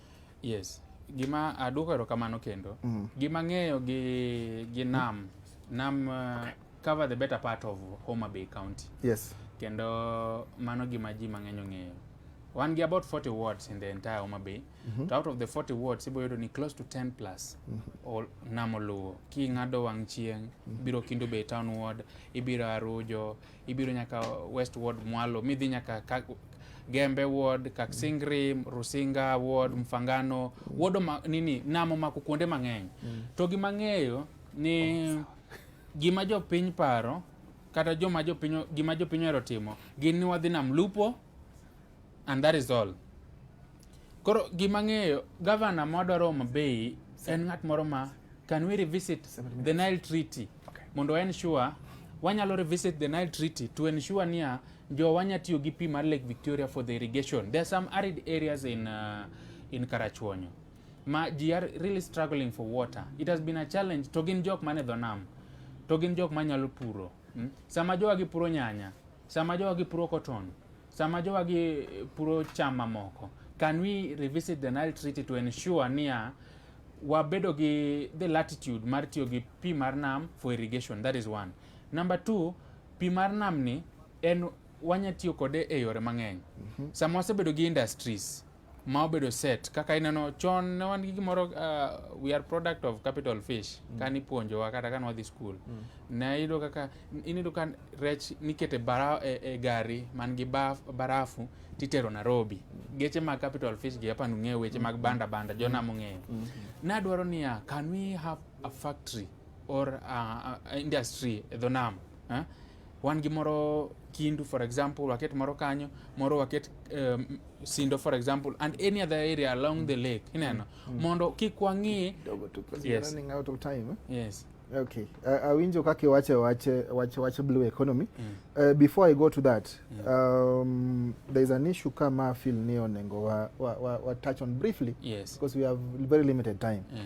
Yes. Gima aduoko erokamano kendo. Mm. Gima ang'eyo gi, gi nam. Nam uh, cover the better part of Homa Bay County. Yes. Kendo mano gima ji mang'eny ong'eyo. Wan gi about 40 wards in the entire Homa Bay. Mm -hmm. To out of the 40 wards, ibo yudo ni close to 10 plus mm -hmm. nam oluwo. King'ado wang' chieng', mm -hmm. biro Kindu Bay Town Ward, ibiro Arujo, Ibiro nyaka West Ward mwalo midhi nyaka Gembe Ward, Kaksingri, Rusinga Ward, Mfangano, wodo ma, nini namo mako kuonde mang'eny. Mm. To gima ng'eyo ni oh, gima jopiny paro kata joma jopiny gima jopiny ohero timo gin ni wadhi nam lupo And that is all. Koro gima ng'eyo governor mwadwaro Homa Bay en ng'at moro ma can we revisit the Nile Treaty okay. mondo ensure wanyalo revisit the Nile Treaty to ensure niya jo wanya tiyo gi pi mar Lake Victoria for the irrigation. There are some arid areas in, uh, in Karachuonyo ma ji are really struggling for water. It has been a challenge to gin jok mane dho nam to gin jok manyalo puro hmm? sama jowa gipuro nyanya sama jowa gipuro cotton Sama jowagi puro cham mamoko, can we revisit the Nile Treaty to ensure niya wabedo gi the latitude mar tiyo gi pi mar nam for irrigation that is one number two pi mar nam ni en wanya tiyo kode e yore mang'eny mm -hmm. sama wasebedo gi industries ma obedo set kaka ineno chon ne wan gi gimoro uh, we are product of capital fish mm. kane ipuonjowa kata kane wadhi skul mm. ne iyudo kaka iniyudo ka rech nikete bara, e, e gari man gi baf, barafu titero Nairobi mm. geche mag capital fish gi hapa nung'eyo weche mm. mag banda banda jona mm. mong'eyo mm. mm. nadwaro niya can we have a factory or a, a industry e dho nam eh? wan gi moro Kindu for example, waket moro kanyo, moro waket um, Sindo for example and any other area along the lake ineno mm. mm. mondo kik wang'i yes. running out of time eh? yes okay awinjo kaka iwache wache wache wache blue economy mm. uh, before i go to that mm. um, there is an issue kama feel ni onengo wa, wa, wa, wa touch on briefly yes. because we have very limited time mm.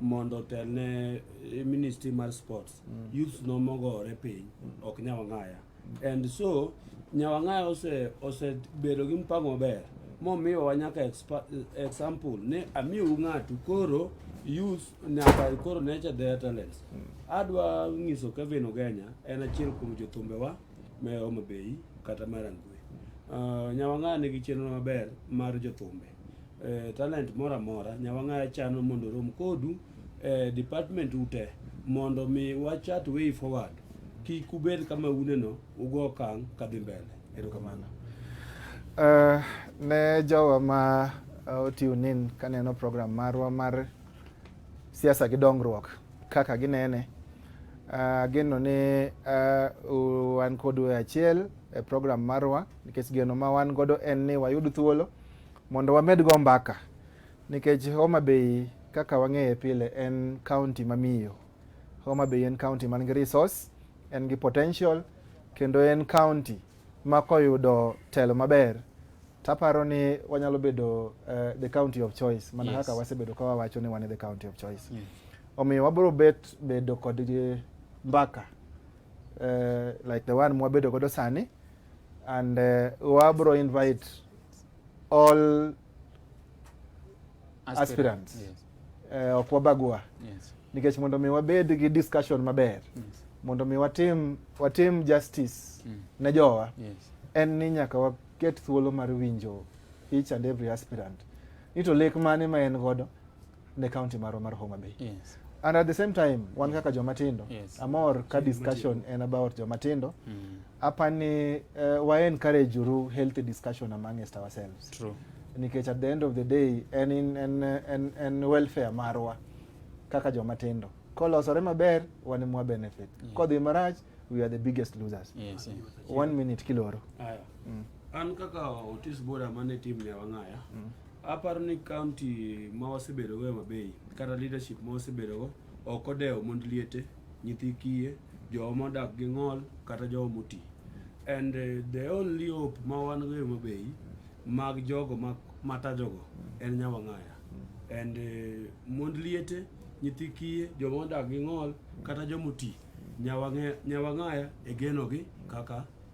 mondo otelne eh, ministry mar sports mm. youths no mogore piny mm. ok nyawang'aya mm. and so nyawang'aya ose osebedo gi mpango maber momiyowa nyaka example ni amiu ng'atu koro youth nyaka koro nature their talents mm. adwa ng'iso Kevin Ogenya en achiel kuom jothumbewa me Homa Bay kata Marangwe uh, ah, nyawang'aya nigi chenro maber mar jothumbe eh, talent moro amora nyawang'aya chano mondo rom kodu eh, department ute mondo mi wachat way forward kik ubed kama uneno ugo okang' kadhi mbele erokamano uh, ne jowa ma uh, otiune in kaneno program marwa mar siasa gi dongruok kaka ginene uh, ageno ni uh, wan kodu e achiel e program marwa nikech geno ma wan godo en ni wayud thuolo mondo wamed go mbaka nikech Homa Bay kaka wang'eye pile en county mamiyo. Homa Bay en county man gi resource, en gi potential kendo en county ma koyudo telo maber taparo ni wanyalo bedo uh, the county of choice mana yes. kaka wasebedo ka wawacho ni wan e the county of choice yes. omiyo wabiro bet bedo kod mbaka uh, like the one mwabedo godo sani and uh, wabro invite all aspirants, aspirants. Yes. Uh, ok wabagua yes. nikech mondo mi wabed gi discussion maber yes. mondo mi watim, watim justice mm. ne jowa yes. en ni nyaka waket thuolo mar winjo each and every aspirant ni to lek mane ma en godo ne county marwa mar Homa Bay. Yes. And at the same time, wan kaka joma tindo, Yes. amor ka discussion en about joma tindo. Mm. Hapa ni uh, wa encourage uru healthy discussion amongst ourselves. True. Nikech at the end of the day en in en en, en welfare marwa kaka joma tindo. Kolosore maber wan mwa benefit. Yeah. Kodhi marach we are the biggest losers. Yes. yes. One minute kiloro. Haya. Mm. An kaka otis bora mane tim ne wang'aya. Aparo ni kaunti ma wasebedogo e Mabei kata leadership ma wasebedogo ok odewo mond liete, nyithi kiye, jowa modak gi ng'ol kata jowa moti. And eh, the only hope ma wan go e Mabei mag jogo ma- matajogo en Nyawang'aya. And eh, mond liete, nyithi kiye, joma odak gi ng'ol kata joma oti, Nyawang'e- Nyawang'aya e genogi kaka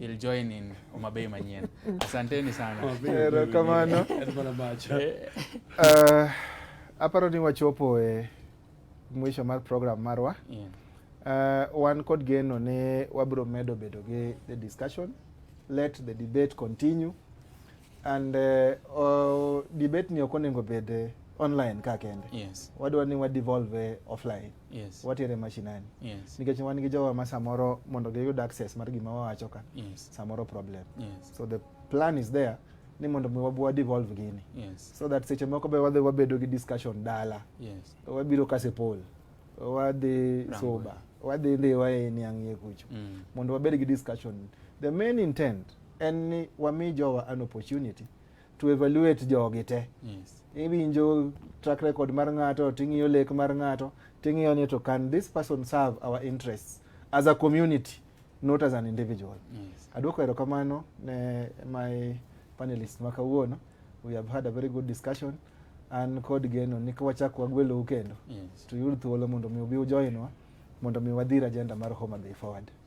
You'll join in Omabei Manyien. Asanteni sana. Erokamano. Eh. Eh, aparo ni wachopo e mwisho mar program marwa. Yeah. Uh, wan kod geno ni wabiro medo bedo gi the discussion. Let the debate continue. And uh, oh, debate ni ok onego bed eh, online ka kende. Yes. Wadwa ni wa devolve eh, offline. Yes. Watere mashinani. Yes. Nikech wan gi jowa ma samoro mondo giyud access mar gima wawacho ka. Yes. Samoro problem. Yes. So the plan is there ni mondo mi wabwa devolve gini. Yes. So that seche moko be wadhi wabedo gi discussion dala. Yes. Wabiro kase poll. Wadhi Rango. soba. Wadhi ndi wae ni ang'ie kucho. Mm. Mondo wabed gi discussion. The main intent en ni wami jowa an opportunity to evaluate jogi te yes. iwinjo track record mar ng'ato ting'iyo lek mar ng'ato ting'iyo ni to can this person serve our interests as a community not as an individual yes. aduoko erokamano ne my panelist ma kawuono we have had a very good discussion an kod geno ni kawachak wagwelou kendo yes. to yud thuolo mondo mi ubi ujoinwa mondo mi wadhir agenda mar Homa Bay forward